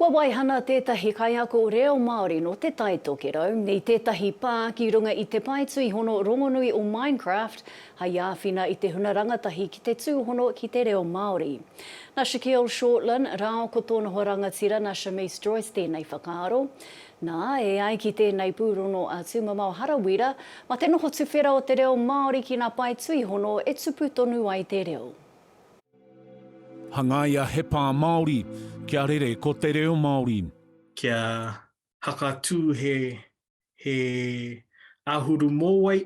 Kua waihana tētahi kaiako reo Māori nō Te Tai Tokerau i tētahi pā ki runga i te pae tuihono rongonui o Minecraft hai āwhina i te huna rangatahi ki te tūhono ki te reo Māori. Na Shaquille Shortland rāo ko tōna hoa rangatira na Shamice Joyce tēnei whakaaro. Na, e ai ki tēnei pūrongo a Tūmamao Harawira, ma te noho tuwhera o te reo Māori ki ngā pae tuihono e tupu tonu ai te reo. Hangaia he pā Māori. Kia rere ko te reo Māori. Kia hakatū he he āhuru mōwai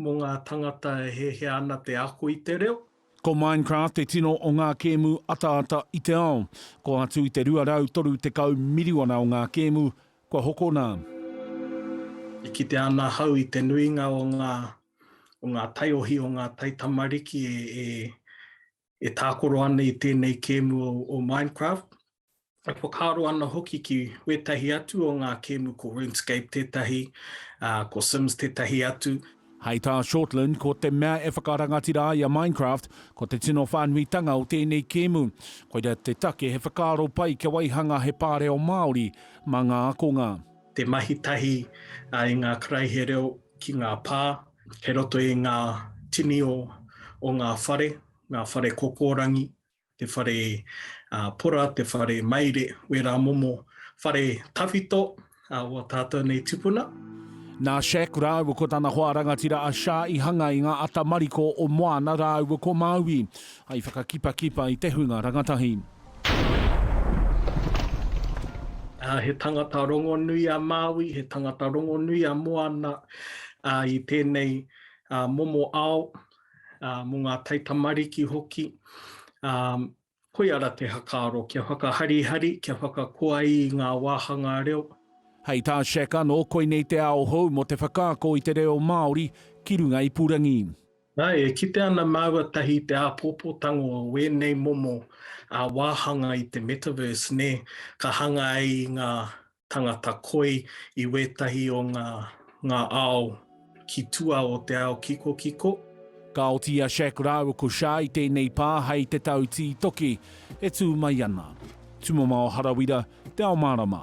mō ngā tangata e hiahia ana te ako i te reo. Ko Minecraft te tino o ngā kēmu ataata i te ao. Ko atu i te 230 miriona o ngā kēmu kua hokona. E kitea ana ahau i te nuinga o ngā o ngā taiohi, o ngā taitamariki e, e, e tākoro ana i tēnei kēmu o, o Minecraft. E whakaaro ana hoki ki wētahi atu o ngā kēmu ko RuneScape tētahi, ā, ko Sims tētahi atu. Hei tā Shortland, ko te mea e whakarangatira ai a Minecraft, ko te tino whānuitanga o tēnei kēmu. Koira te take he whakaaro pai kia waihanga he pāreo Māori mā ngā akonga. te mahi tahi i ngā karaihe reo ki ngā pā, kei roto i ngā tini o o ngā whare, ngā whare kokorangi, te whare pora, te whare maire, wērā momo whare tawhito o a tātou nei tipuna. Nā Shaq rāua ko tana hoa rangatira a Sha i hanga i ngā ata mariko o Moana rāua ko Maui, hai whakakipakipa i te hunga rangatahi. He tangata rongonui a Māui, he tangata rongonui a Moana i tēnei momo ao, mō ngā taitamariki hoki. Koia ra te hakaaro, kia whakaharihari, kia whakakoa i ngā wāhanga reo. Hei tā Shek anō, koinei te ao hou mō te whakaako i te reo Māori ki runga ipurangi. Nāe, e kite ana māua tahi i te āpōpōtango o wēnei momo wāhanga i te Metaverse, nē, ka hanga ai i ngā tangata koi i wētahi o ngā ao ki tua o te ao kikokiko. Ka oti a Shaq rāua ko Shah i tēnei pā hei te tau tītoki e tū mai ana. Tumamao Harawira, Te Ao Mārama.